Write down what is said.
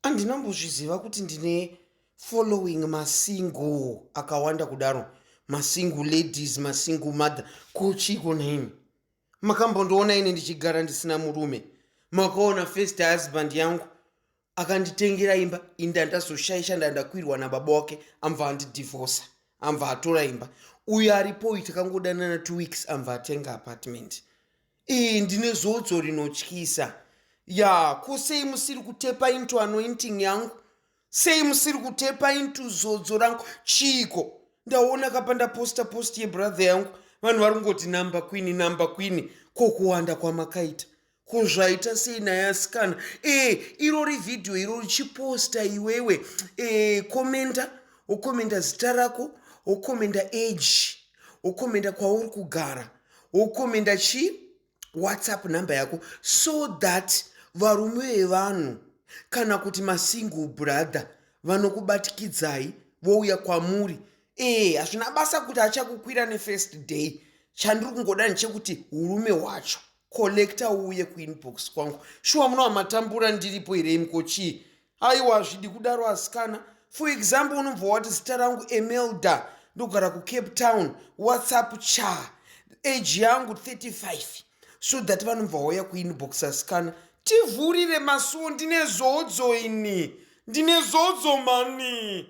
Andina kumbozviziva kuti ndine following masingle akawanda kudaro masingle ladies masingle mother kuchiko nhaimi makambondiona ini ndichigara ndisina murume makaona first husband yangu akanditengera imba inda ndazoshaisha ndandakwirwa nababa wake amva andidivosa amva atora imba uyo aripoyi takangodanana two weeks amva atenga apartment Iyi ndine zodzo rinotyisa. Ya, ko sei musiri kutepa into anointing yangu? Sei musiri kutepa into zodzo rangu? Chiiko? Ndaona kapa ndaposta post yebrother yangu. Vanhu vari kungoti number queen, number queen. Ko kuwanda kwamakaita. Ko zvaita sei naye asikana? Eh, irori video iro richiposta iwewe. Eh, komenda, wokomenda zita rako, wokomenda age, wokomenda kwauri kugara. Ukumi ndachi WhatsApp number yako so that varume vevanhu kana kuti masingle brother vanokubatikidzai vouya kwamuri ee hazvina basa kuti achakukwira nefirst day chandiri kungoda ndechekuti urume hwacho collecta uuye kuinbox kwangu shuwa munoamatambura ndiripo here imko chii aiwa hazvidi kudaro asikana for example unobva wati zita rangu emelda ndogara kucape town whatsapp cha age yangu 35 so that vanobva wauya kuinbox asikana tivhurire masuo ndine zodzo ini ndine zodzo mani